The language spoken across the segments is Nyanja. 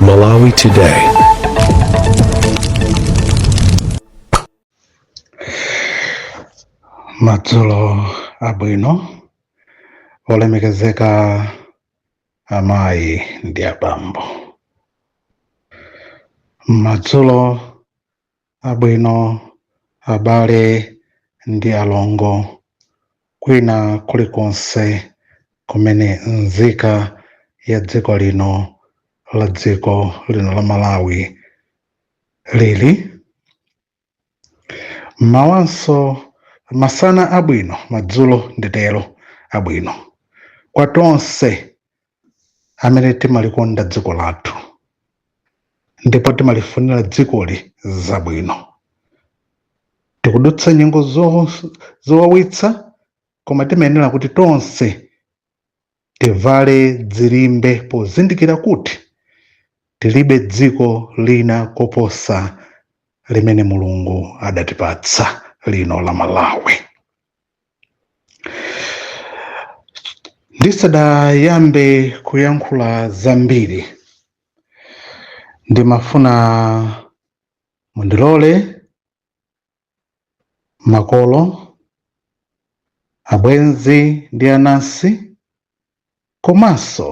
Malawi Today. madzulo abwino olemekezeka amayi ndi abambo madzulo abwino abale ndi alongo kwina kulikonse kumene nzika ya dziko lino la dziko lino la malawi lili mmawanso masana abwino madzulo nditero abwino kwa tonse amene timalikonda dziko lathu ndipo timalifunira dzikoli zabwino tikudutsa nyengo zo- zowawitsa koma timayenera kuti tonse tivale dzilimbe pozindikira kuti tilibe dziko lina koposa limene mulungu adatipatsa lino la malawi ndisadayambe kuyankhula zambiri ndimafuna mundilole makolo abwenzi ndi anansi komanso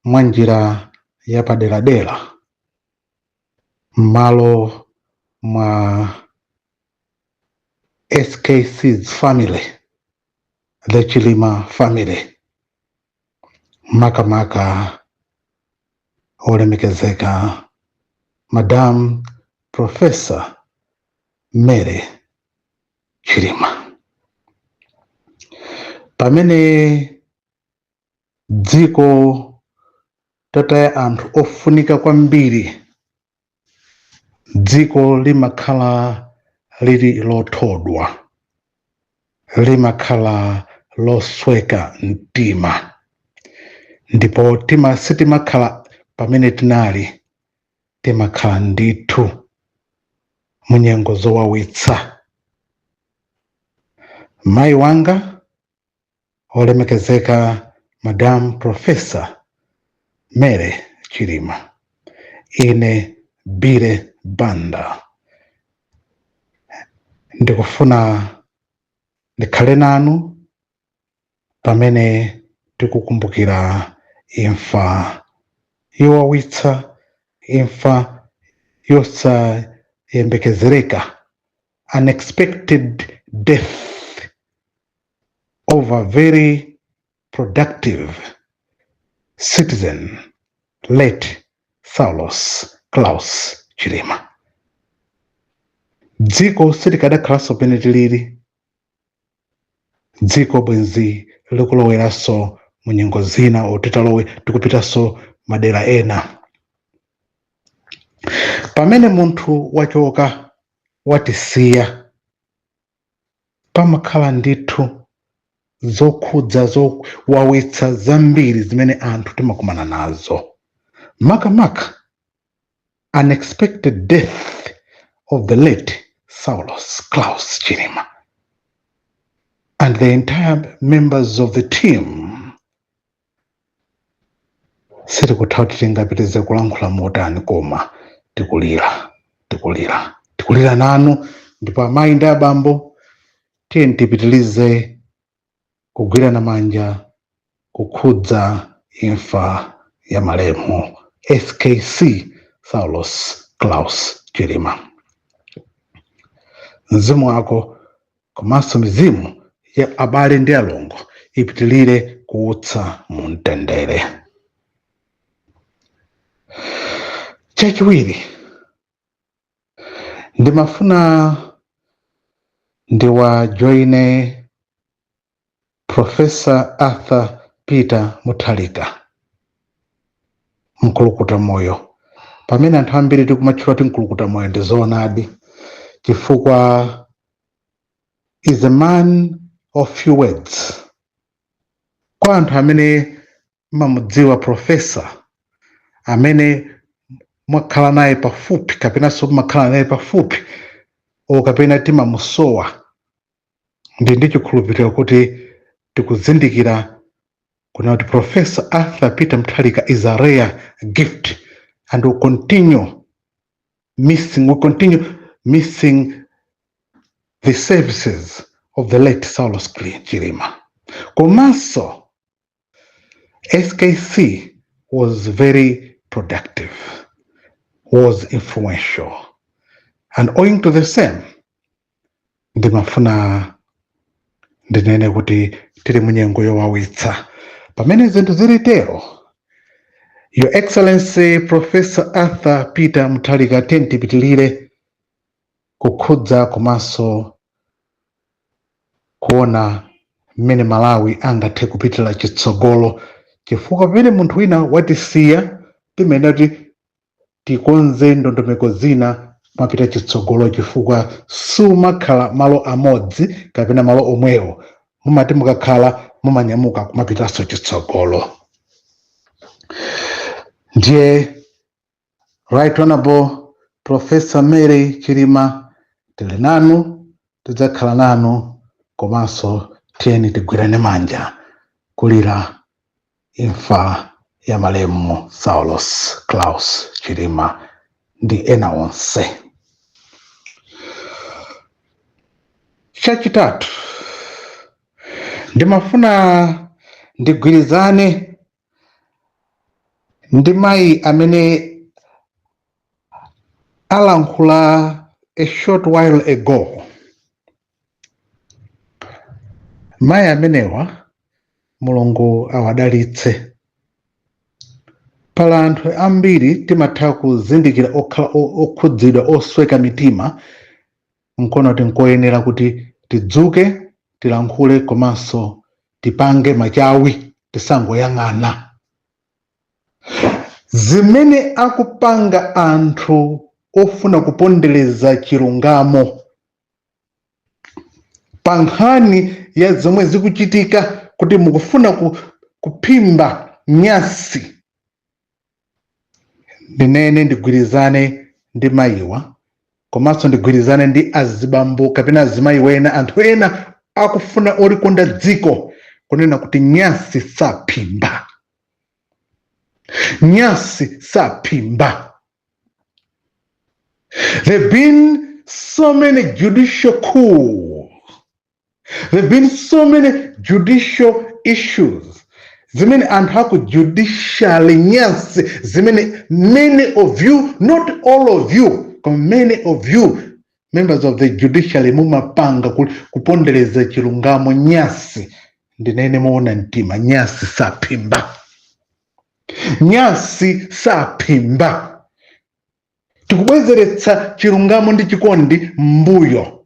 mwa njira yapaderadera m'malo mwa SKC's family, the Chilima family, makamaka olemekezeka Madam Professor Mary Chilima. Pamene dziko tataya anthu ofunika kwambiri dziko limakhala lili lothodwa limakhala losweka mtima ndipo tima sitimakhala pamene tinali timakhala ndithu munyengo zowawitsa mayi wanga olemekezeka Madam Professor Mary Chilima ine bile banda ndikufuna ndikhale nanu pamene tikukumbukira imfa yowawitsa imfa yosayembekezereka unexpected death of a very productive citizen, late Saulos Klaus Chilima. Dziko silikadakhalanso pamene tilili, dziko bwenzi likuloweranso mu nyengo zina oti talowera tikupitanso madera ena. Pamene munthu wachoka watisiya pamakhala ndithu zokhudza zowawitsa zambiri zimene anthu timakumana nazo makamaka unexpected death of the late Saulos Klaus Chilima and the entire members of the team sitikutha kuti tingapitirize kulankhula motani koma tikulira tikulira tikulira nanu ndipo amayi ndi abambo tiyeni tipitirize kugwirana manja kukhudza imfa ya malemu SKC Saulos Klaus Chilima mzimu wako komanso mizimu ya abale ndi alongo ipitilire kuusa mu mtendere chachiwiri ndimafuna ndiwajoine Professor Arthur Peter Mutharika, mkulukuta moyo. Pamene anthu ambiri tikumatchula kuti mkulukuta moyo ndi zoonadi, chifukwa he's a man of few words. Kwa anthu amene mmamudziwa profesa amene mwakhala naye pafupi kapenanso mmakhala naye pafupi o kapena timamusowa ndi ndi chikhulupiriro kuti tikuzindikira kunena kuti Professor Arthur Peter Mutharika is a rare gift and we'll continue missing we'll continue missing the services of the late Saulos Cli- Chilima komanso SKC was very productive, was influential, and owing to the same, ndimafuna ndinene kuti tiri munyengo yowawitsa pamene zinthu ziri tero your excellency Professor Arthur Peter Mutharika tiyeni tipitilire kukhudza komanso kuona mmene malawi angathe kupitira chitsogolo chifukwa pamene munthu wina watisiya timayenera kuti tikonze ndondomeko zina kumapita chitsogolo chifukwa sumakhala malo amodzi kapena malo omwewo mumati mukakhala mumanyamuka kumapitanso chitsogolo ndiye Right Honorable Professor Mary Chilima tili nanu tidzakhala nanu komanso tiyeni tigwirane manja kulira imfa ya malemu Saulos Klaus Chilima ndi ena onse. Chachitatu, ndimafuna ndigwirizane ndi mayi amene alankhula a short while ago mayi amenewa mulungu awadalitse pala anthu ambiri timatha kuzindikira okhala o- okhudzidwa osweka mitima nkuona kuti nkoyenera kuti tidzuke tilankhule komanso tipange machawi tisangoyang'ana zimene akupanga anthu ofuna kupondereza chilungamo pa nkhani ya zomwe zikuchitika kuti mukufuna ku, kuphimba nyasi ndinene ndigwirizane ndi mayiwa komanso ndigwirizane ndi azibambo kapena azimayi ena anthu ena akufuna olikonda dziko kunena kuti nyasi saphimba nyasi saphimba there have been so many judicial coups there have been so many judicial issues zimene anthu aku judiciary nyansi zimene many of you not all of you koma many of you members of the judiciary mumapanga ku- kupondereza chilungamo nyasi ndinene moona mtima nyasi saphimba nyasi saphimba tikubwezeretsa chilungamo ndi chikondi mbuyo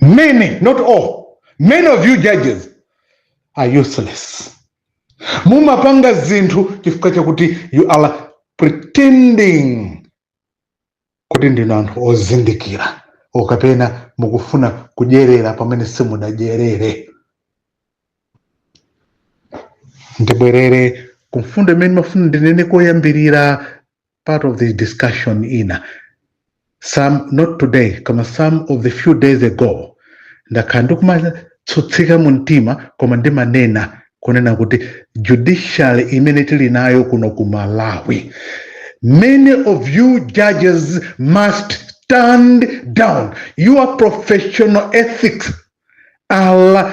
many not all many of you judges are useless mumapanga zinthu chifukwa chakuti you are pretending kuti ndinu anthu ozindikira okapena mukufuna kudyerera pamene simunadyerere ndibwerere kumfundo imene ndimafuna ndinene koyambirira part of this discussion ina some not today koma some of the few days ago ndakhala ndikumatsutsika mu mtima koma ndimanena kunena kuti judiciary imene tili nayo kuno ku malawi many of you judges must stand down your professional ethics are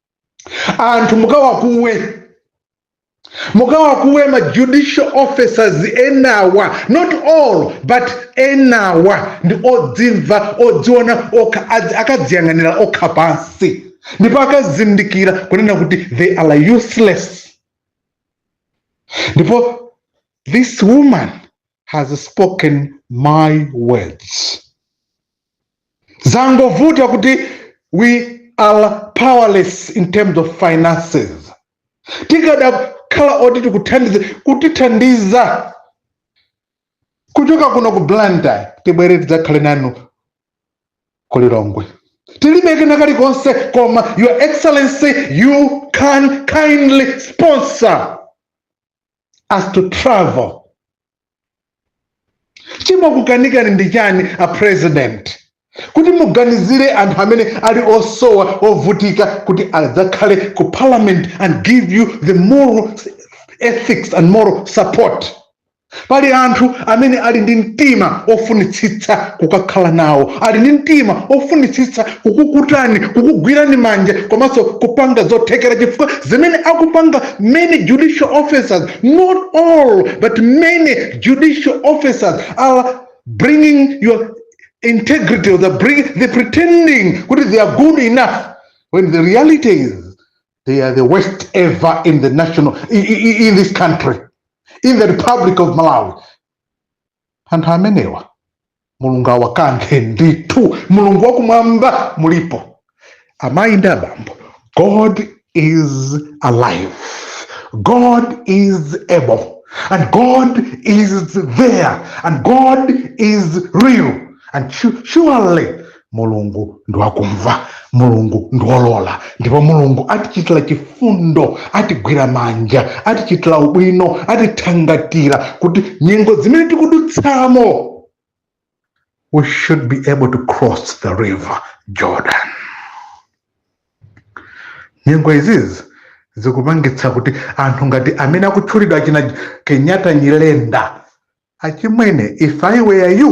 anthu mukawakuwe mukawakuwe ma judicial officers enawa not all but enawa ndi odzimva odziona okha akadziyang'anira okha pansi ndipo akazindikira kunena kuti they are useless ndipo this woman has spoken my words zangovuta kuti we are powerless in terms of finances tikadakhala oti tikuthandize kutithandiza kuchoka kuno ku blantyre tibwere tidzakhale nanu ku lilongwe tilibe kena kalikonse koma your excellency you can kindly sponsor us to travel chimokukanikani ndi chani a president kuti muganizire anthu amene ali osowa ovutika kuti adzakhale ku parliament and give you the moral ethics and moral support pali anthu amene ali ndi mtima ofunitsitsa kukakhala nawo ali ndi mtima ofunitsitsa kukukutani kukugwirani manja komanso kupanga zothekera chifukwa zimene akupanga many judicial officers not all but many judicial officers are bringing your integrity or they're, bring, they're pretending kuti they are good enough when the reality is they are the worst ever in the national in, in, in this country in the republic of malawi Anthu amenewa Mulungu awakanthe ndithu. Mulungu wakumwamba alipo amayi ndi abambo. God is alive. God is able. And God is there. And God is real. And surely mulungu ndi wakumva mulungu ndi wolola ndipo mulungu atichitira chifundo atigwira manja atichitira ubwino atithangatira kuti nyengo zimene tikudutsamo we should be able to cross the river jordan nyengo izizi zikupangitsa kuti anthu ngati amene akutchulidwa achina kenyatta nyirenda achimwene if i were you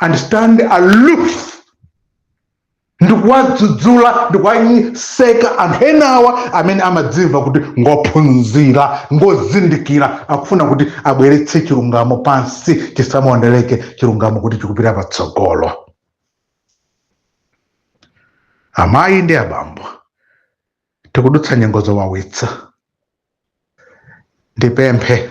and stand aloof ndikuwadzudzula ndikuwaseka anthu enawa amene amadzimva kuti ngophunzira ngozindikira akufuna kuti abweretse chilungamo pansi chisamaoneleke chilungamo kuti chikupita patsogolo amayi ndi abambo tikudutsa nyengo zowawitsa ndipemphe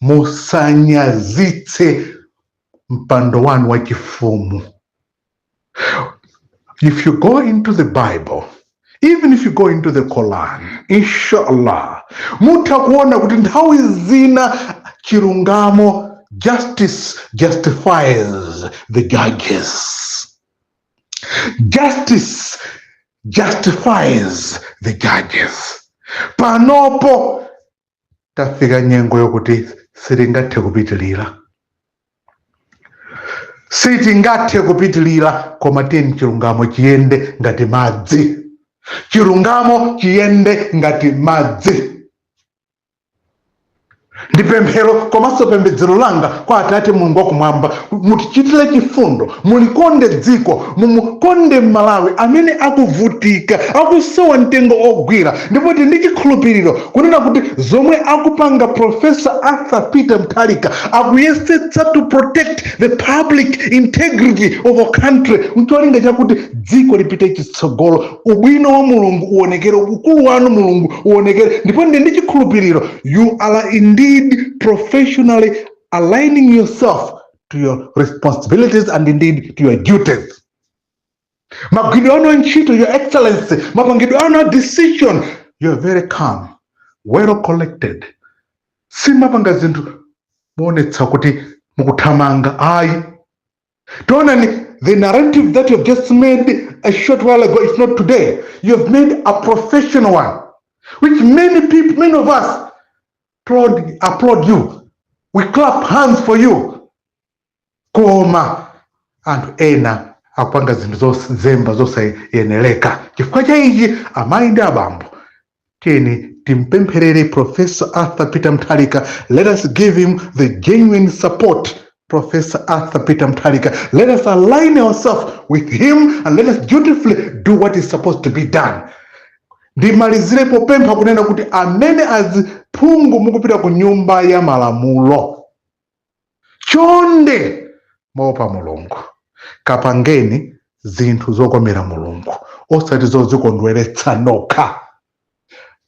musanyazitse mpando wanu wa chifumu if you go into the bible even if you go into the quran inshallah mutha kuona kuti nthawi zina chilungamo justice justifies the judges justice justifies the judges panopo tafika nyengo yokuti sitingathe kupitilira sitingathe kupitilira koma tiyeni chilungamo chiyende ngati madzi chilungamo chiyende ngati madzi ndi pemphero komanso pembedzero langa kwa atate mulungu wakumwamba mutichitire chifundo mulikonde dziko mumukonde mmalawi amene akuvutika akusowa mtengo ogwira ndipo ndili ndi chikhulupiriro kunena kuti zomwe akupanga professor arthur peter mutharika akuyesetsa to protect the public integrity of our country mcholinga chakuti dziko lipite chitsogolo ubwino wa mulungu uonekere ukulu wanu mulungu uonekere ndipo ndili ndi chikhulupiriro you are indeed professionally aligning yourself to your responsibilities and indeed to your duties magwiridwe anu a ntchito your excellency mapangidwe anu a decision you are very calm well collected simumapanga zinthu moonetsa kuti mukuthamanga ayi taonani the narrative that you have just made a short while ago if not today you have made a professional one which many people many of us applaud you we clap hands for you koma anthu ena akupanga zinthu zozemba zosayenereka chifukwa cha ichi amayi ndi abambo tiyeni timpempherere professor arthur peter mutharika let us give him the genuine support professor arthur peter mutharika let us align ourselves with him and let us dutifully do what is supposed to be done ndimalizire popempha kunena kuti amene aziphungu mukupita ku nyumba ya malamulo chonde moopa mulungu kapangeni zinthu zokomera mulungu osati zozikondweretsa nokha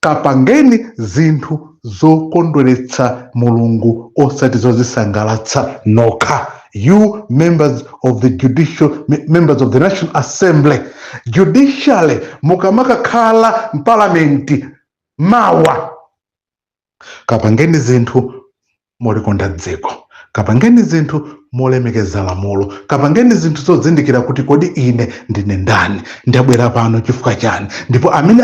kapangeni zinthu zokondweretsa mulungu osati zozisangalatsa nokha you members of the members of the national assembly judicially mukamakakhala mpalamenti mawa kapangeni zinthu molikonda dziko. Kapangeni zinthu molemekeza lamulo. Kapangeni zinthu zozindikira kuti kodi ine ndine ndani? Ndabwera pano chifukwa chani? Ndipo amene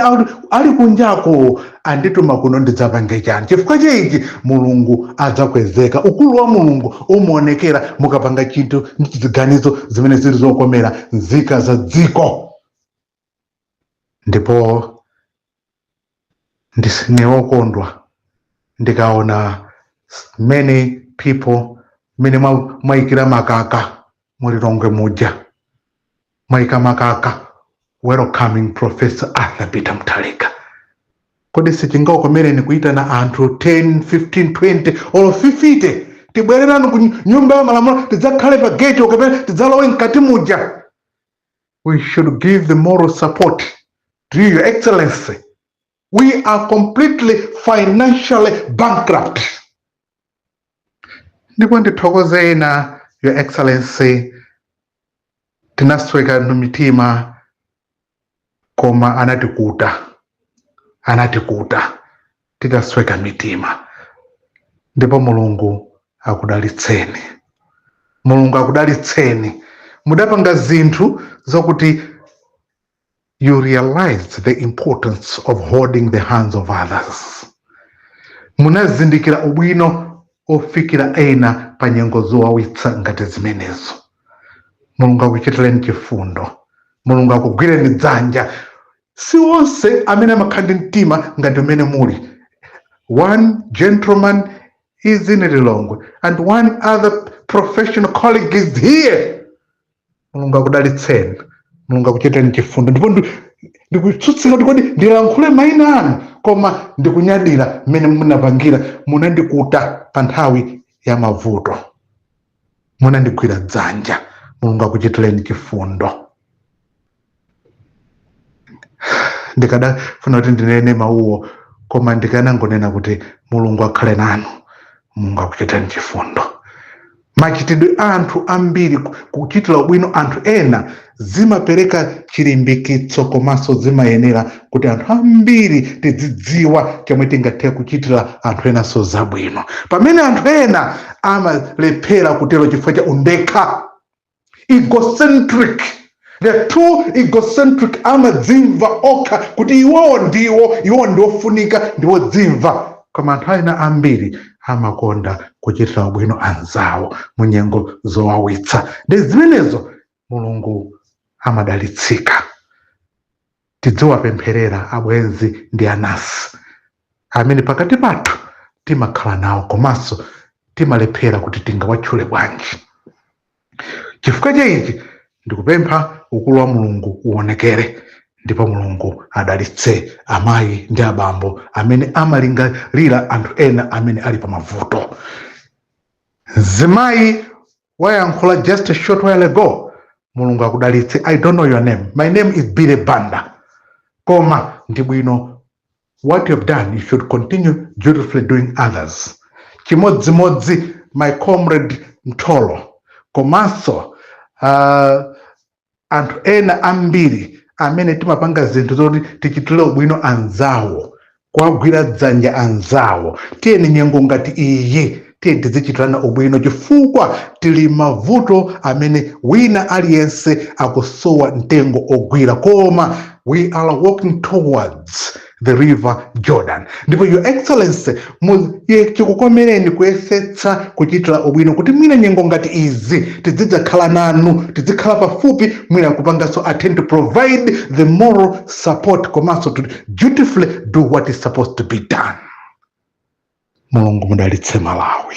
ali kunjako andituma kuno ndidzapange chani? Chifukwa cha ichi Mulungu adzakwezeka. Ukulu wa Mulungu umaonekera mukapanga chinthu ndi ziganizo zimene zili zokomera nzika za dziko. ndipo ndine wokondwa ndikaona many people mmene mwa- mwayikira makaka mulilongwe muja mwayika makaka welcoming professor arthur peter mutharika kodi sichingakomereni kuyitana anthu 10 15 20 olo 50 tibwereranu ku nyumba ya malamulo tidzakhale pa gate kapena tidzalowe mkati muja we should give the moral support to you, Your Excellency. We are completely financially bankrupt. Ndipo ndithokoze ena, Your Excellency, tinasweka mitima koma anatikuta anatikuta titasweka mitima ndipo mulungu akudalitseni mulungu akudalitseni mudapanga zinthu zokuti you realize the importance of holding the hands of others munazindikira ubwino ofikira ena pa nyengo zowawitsa ngati zimenezo mulungu akuchitireni chifundo mulungu akugwireni dzanja Si onse amene amakhala ndi mtima ngati umene muli one gentleman is in Lilongwe and one other professional colleague is here. Mulungu akudalitseni, Mulungu akuchitireni chifundo ndipo ndi- ndikutsutsika kuti kodi ndilankhule maina anu koma ndikunyadira mmene munapangira munandikuta pa nthawi ya mavuto. munandigwira dzanja mulungu akuchitireni chifundo ndikadafuna kuti ndinene mawuwo koma ndikanangonena kuti mulungu akhale nanu mulungu akuchitireni chifundo machitidwe a anthu ambiri ku- kuchitira ubwino anthu ena zimapereka chilimbikitso komanso zimayenera kuti anthu ambiri tidzidziwa chomwe tingathe kuchitira anthu enanso zabwino pamene anthu ena amalephera kutero chifukwa cha undekha egocentric they are too egocentric amadzimva okha kuti iwowo ndiwo iwowo ndiofunika ndiwodzimva koma anthu ena ambiri amakonda kuchitira ubwino anzawo mu nyengo zowawitsa ndi zimenezo mulungu amadalitsika tidziwapempherera abwenzi ndi anasi amene pakati pathu timakhala nawo komanso timalephera kuti tingawatchule bwanji chifukwa cha ichi ndikupempha ukulu wa mulungu uonekere ndipo mulungu adalitse amayi ndi abambo amene amalingalira anthu ena amene ali pa mavuto mzimayi wayankhula just a short while ago mulungu akudalitse i don't know your name my name is billy banda koma ndi bwino what you have done you should continue dutifully doing others chimodzimodzi my comrade mtolo komanso uh, anthu ena ambiri amene timapanga zinthu zoti tichitire ubwino anzawo kuwagwira dzanja anzawo tiyeni nyengo ngati iyi tiyeni tizichitirana ubwino chifukwa tili mavuto amene wina aliyense akusowa mtengo ogwira koma we are walking towards the river jordan ndipo your excellency mu- ye- chikukomereni kuyesetsa kuchitira ubwino kuti mwina nyengo ngati izi tizidzakhala nanu tizikhala pafupi mwina kupanganso attend to provide the moral support komanso to dutifully do what is supposed to be done mulungu mudalitse malawi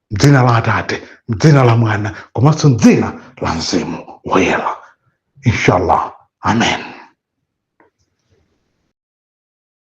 mdzina la atate mdzina la mwana komanso mdzina la mzimu woyera inshallah amen